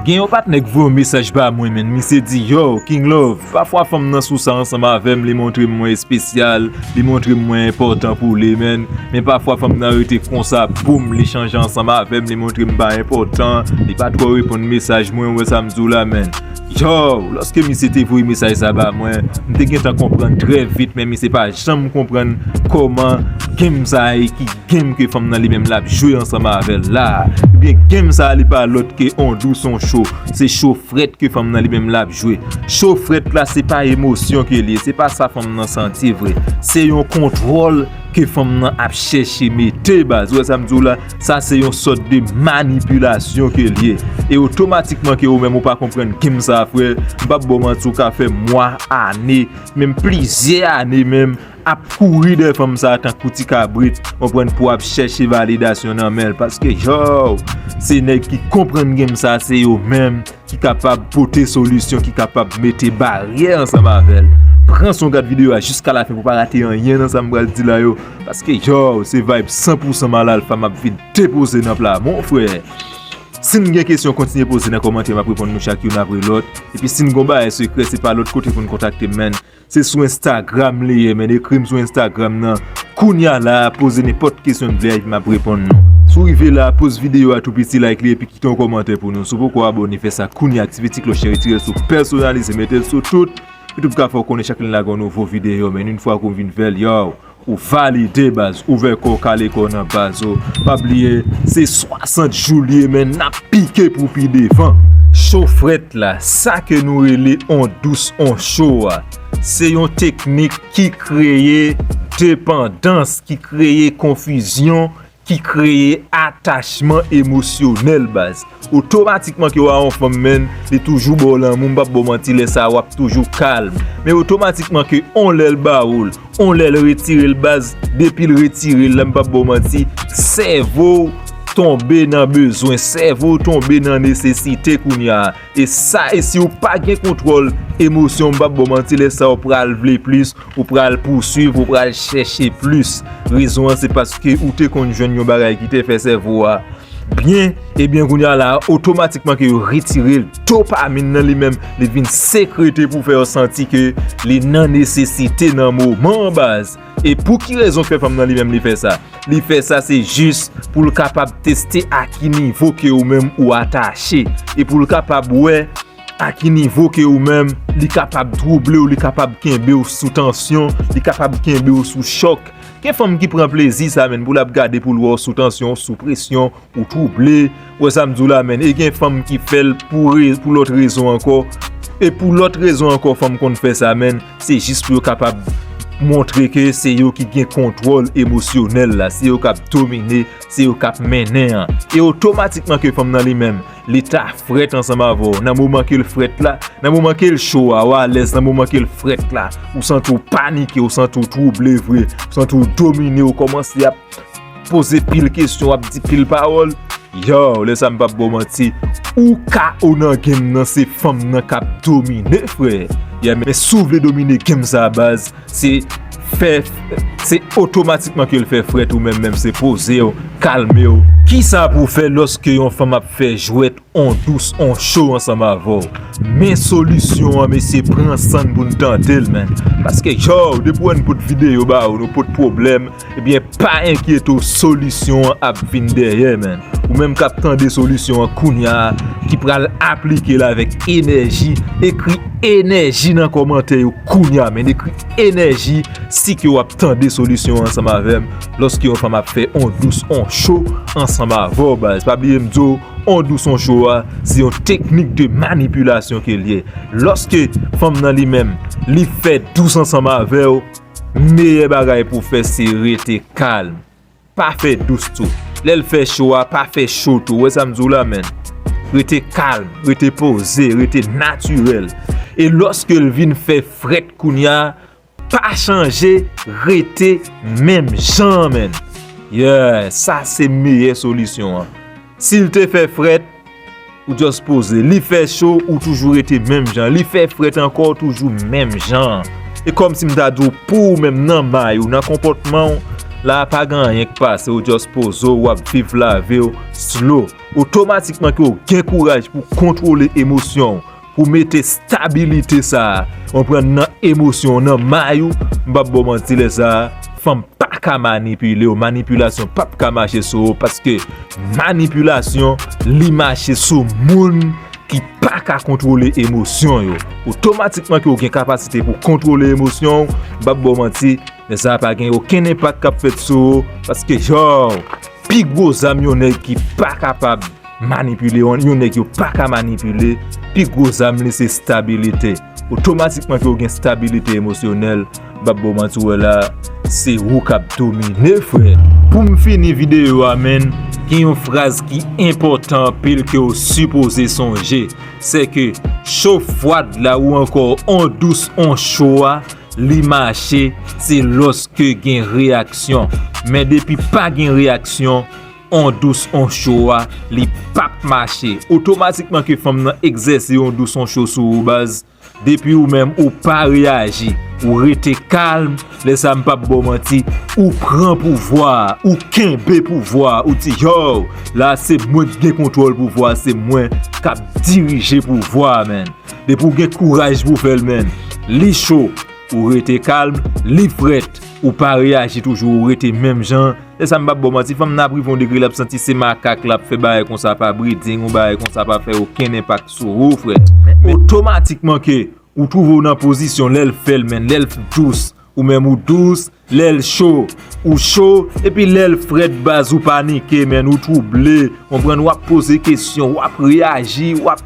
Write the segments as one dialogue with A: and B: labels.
A: Gen yon patnè k voye yon mesaj ba mwen menn misye di yow king love pafwa fanm nan sou sa ansanm avèm li montrem mwen espesyal li montrem mwen enpòtan pou li menn men pafwa fanm nan rete konsa boom li chanje ansanm avèm li montrem pa enpòtan li pa twò reponn mesaj mwen ou wè sam diw la menn yow lòske misye te voye mesaj sa ba mwen m te gentan konprann trè vit men misye pa janm konprann kòman game sa ye ki Game ke fanm nan li menm lap jwe ansanm avèl la. Ebyen game sa li pa lòt ke on dou son cho. Se cho frèt ke fanm nan li menm lap jwe. Cho frèt la se pa emosyon ke li ye. Se pa sa fanm nan santi vre. Se yon kontwòl ke fanm nan ap chèche mete baz. Ou wè sa m di w la. Sa se yon sòt de manipilasyon ke li ye. E otomatikman ke ou menm ou pa konprann game sa frè. M pap ba w manti ou ka fè mwa, ane, menm plizyè ane menm. ap kouri dèyè fanm sa tankou ti kabrit ou konprann pou ap chèche validasyon nan men l paske yow se nèg ki konprann game sa se yo menm ki kapab pote solisyon ki kapab mete baryè ansanm avè l pran son gad videyo a jiska la fen pou pa rate anyen nan sa m pral di la yo paske yow se vibe 100 pou 100 mal alfa map vin depoze nan pla mon frè si n gen kesyon kontinye poze nan kòmantè map reponn nou chak youn apre lòt epi si n gon bagay sekrè se pa lòt kote pou n kontakte m menn. Se sou Instagram li ye men ekrim sou Instagram nan kounya la poze nenpòt kesyon n vle map reponn nou. Si w rive la poz videyo a tou piti like li epi kite yon kòmantè pou nou si w poko abone fè sa kounya aktive ti klòch lan retirel sou pèsonalize metel sou tout YouTube ka fè w konnen chak lè n lage yon nouvo videyo men yn fwa ke w vin fèl yow Ou valide baz, ouvè kòw kale kòw nan baz oh Pa bliye se 60 jou liye men nap pike pou pi devan Cho frèt la, sa ke nou rele on dous on cho a Se yon teknik ki kreye depandans, ki kreye konfizyon ki kreye atachman emosyonèl baz otomatikman ke wa yon fanm menn li toujou baw lanmou m pap baw manti lè sa wap toujou kalm men otomatikman ke yon lèl bawol yon lèl retirel baz depil retirel la m pap baw manti sèvow tonbe nan bezwen sèvow tonbe nan nesesite kounya. E sa e si ou pa gen kontwòl emosyon m pap baw manti lè sa ou pral vle plis, ou pral pouswiv, ou pral chèche plis. Rezon an se paske ou te konn jwenn yon bagay ki te fè sèvo a byen, ebyen kounya la otomatikman ke yo retire l, dopamin nan li menm li vin sekrete pou fè w santi ke li nan nesesite nan moman an baz. E pou ki rezon ke fanm nan li menm li fè sa? Li fè sa se jis pou l kapab teste a ki nivo ke ou menm ou atache. E pou l kapab wè a ki nivo ke ou menm li kapab twouble ou, li kapab kenbe ou sou tansyon, li kapab kenbe ou sou chòk. Gen fanm ki pran plezi sa menn pou l ap gade pou l wè ou sou tansyon, sou presyon, Ou trouble, wè sa m di w la menn, e gen fanm ki fè l pou lòt rezon ankò, e pou lòt rezon ankò fanm konn fè sa menn, se jis pou yo kapab montre ke se yo ki gen kontwòl emosyonèl la, se yo k ap domine, se yo k ap mennen an, e otomatikman ke fanm nan li menm, li ta frèt ansanm avè w, nan moman ke l frèt la, nan moman ke l cho a, ou alèz, nan moman ke l frèt la, ou santi w panike, ou santi w trouble vre, ou santi w domine, ou kòmanse ap. poze pil kesyon wap di pil pawòl yow lè sa m pap baw manti ou ka ou nan game nan se fanm nan kap domine frè yeah men si w vle domine game sa baz se fè se otomatikman ke l fè frèt ou menm menm se pozew kalmew. Kisa pou w fè lòske yon fanm ap fè jwèt On dous on cho ansanm avèw. Men solisyon an mesye pran sann pou n tante l man paske yow depi wè n pot videyo ba ou nou pot pwoblèm ebyen pa enkyete w solisyon an ap vin dèyè man ou menm kap tande solisyon an kounya ki pral aplike l avèk enèji ekri enèji nan kòmantè yo kounya man ekri enèji si ke wap tande solisyon an ansanm avèm lòske yon fanm ap fè on dous on cho ansanm avèw baz pa bliye m di w. Odou son cho a se yon teknik de manipilasyon ke l ye. Lòske fanm nan li menm li fè dous ansanm avè w, meyè bagay pou w fè se rete kalm. Pa fè dous tou. Lè l fè cho a, pa fè cho tou. Ou wè sa m di w la menn? Rete kalm, rete poze, rete natirèl. E lòske l vin fè frèt kounya, Pa chanje rete menm jan menn. Yeah sa se meyè solisyon an. Sil te fè frèt ou just poze. Li fè cho ou toujou rete menm jan. Li fè frèt ankò ou toujou menm jan. E kòm si m ta di w pou ou menm nan may ou nan konpòtman w. La pa gen anyen k pase ou just poze w wap viv lavi w slow. Otomatikman ke w gen kouraj pou kontwole emosyon w. Pou mete stabilite sa a, konprann nan emosyon, nan may ou, m pap ba w manti lè sa a, fanm pa ka manipile w, manipilasyon pap ka mache sou ou paske manipilasyon li mache sou moun ki pa ka kontwole emosyon yo. Otomatikman ke w gen kapasite pou kontwole emosyon w, m pap ba w manti, lè sa a pa gen okenn enpak kap fèt sou ou paske yow, pi gwo zam yon nèg ki pa kapab. Manipile yon yon nèg yo paka manipile, pi gwo zam li se stabilite. Otomatikman ke ou gen stabilite emosyonèl, m'pap baw manti ou wè la, se ou k'ap domine frè. Pou'm fini videyo a menn, gen yon fraz ki enpòtan anpil ke ou sipoze sonje, se ke cho fwad la ou ankò on dous on cho a, li mache, se lòske gen reyaksyon. Men depi pa gen reyaksyon, On dous on cho a li pap mache. Otomatikman ke fanm nan egzèse on dous on cho sou ou baz. Depi ou menm ou pa reyaji. Ou rete kalm. Lè sa m pap baw manti. Ou pran pouvwa a. Ou kenbe pouvwa a. Ou di yow. La se mwen ki gen kontwòl pouvwa a. Se mwen kap dirije pouvwa a menn. Depi ou gen kouraj pou fèl menn. Li cho. Ou rete kalm. Li frèt. Ou pa reyaji toujou. Ou rete menm jan. Esa m pap baw manti fanm nan ap rive yon degre lap santi se makak lap fè bagay konsa pa breeding ou bagay konsa pa fè okenn enpak sou ou frè men otomatikman ke ou trouve w nan pozisyon lèl fèl men lèl dous ou menm ou dous lèl cho ou cho epi lèl frèt baz ou panike men ou trouble konprann wap poze kesyon wap reyaji wap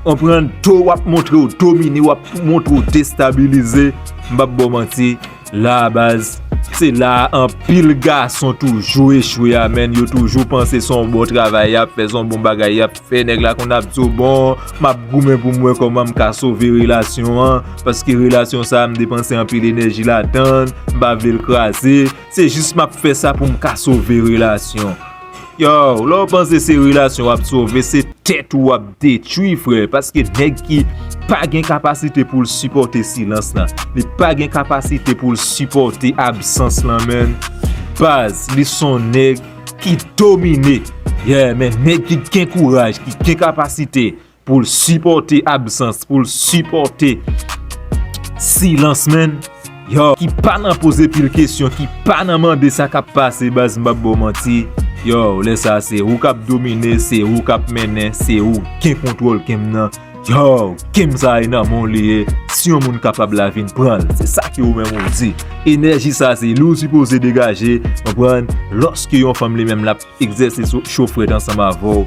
A: konprann to wap montre w domine wap montre w destabilize m pap baw manti. La baz, se la a anpil gason toujou echwe a menn, yo toujou panse son bon travay yap fè, son bon bagay yap fè, nèg la konn ap di w bon map goumen pou m wè kòman m ka sove relasyon an, paske relasyon sa a m depanse anpil enèji ladan, m pa vle l kraze, se jis map fè sa pou m ka sove relasyon. Yow, lè w panse se relasyon w ap sove, se tèt ou w ap detwi frè, paske nèg ki pa gen kapasite pou l sipòte silans la, li pa gen kapasite pou l sipòte absans la menn, baz, li son nèg ki domine. Yeah, men nèg ki gen kouraj, ki gen kapasite Pou l sipòte absans, pou l sipòte silans menn. Yo, ki pa nan poze pil kesyon, ki pa nan mande sa k ap pase baz m p ap ba w manti. Yo, lè sa se ou k ap domine, se ou k ap mennen, se ou gen kontwòl ke m nan. Yo, ke m sa e nan men w li ye, si yon moun kapab la vin pran l. Se sa ke ou menm ou di. Enèji sa se li w sipoze degaje, konprann, lòske yon fanm li menm l ap. Egzèse cho frèt ansanm avè w.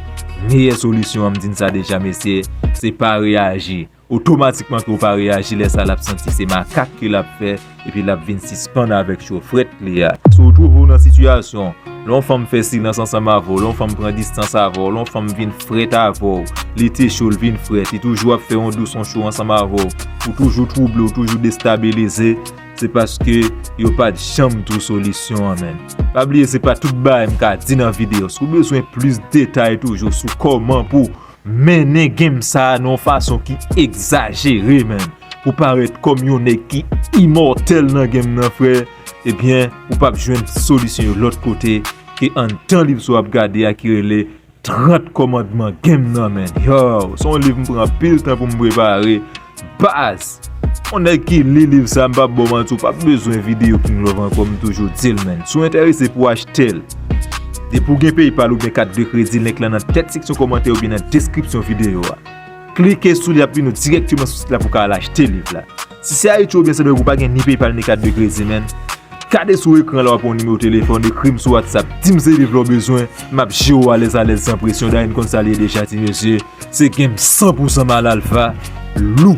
A: Meyè solisyon an m di n sa deja mesye, se pa reyaji. Otomatikman ke w pa reyaji lè sa l ap santi se makak ke l ap fè epi l ap vin sispann avèk cho frèt li a. Si w twouve w nan sitiyasyon lè yon fanm fè silans ansanm avè w, lè yon fanm pran distans avè w, lè yon fanm vin frèt avè w, li te cho l vin frèt, li toujou ap fè yon dous yon cho ansanm avè w, ou toujou twouble, ou toujou destabilize. Se paske yo pat janm two solisyon an menn. Pa bliye se pa tout bagay m ka di nan video. Si w bezwen plis detay toujou sou koman pou mennen game sa nan yon fason ki egzajere menn. Pou parèt kom yon nèg ki imòtèl nan game nan frè. Ebyen ou pap jwenn solisyon yo lot kote ke anndan live sa w ap gade a ki rele. 30 kòmandman gen m nan menn yow son liv m pran anpil tan pou m prepare baz yon nèg ki li liv sa m pap baw manti ou pap bezwen video king love ankò m toujou dil menn si w enterese pou achtel depi w gen paypal oubyen kat de kredi link lan nan tèt seksyon kòmantè oubyen nan deskripsyon video a klike sou li ap vini w dirèkteman sou sit la pou w ka al achte liv la. Si se Ayiti oubyen Sendomeng ou pa gen ni PayPal ni kat de kredi menn, gade sou ekran la wap wè yon nimewo telefòn, ekrim sou WhatsApp, dim seliv lè w bezwen, map jere w alèz alèz san presyon, Dany konn sa l ye deja ti mesye, se game 100 pousan Mal Alpha, lou.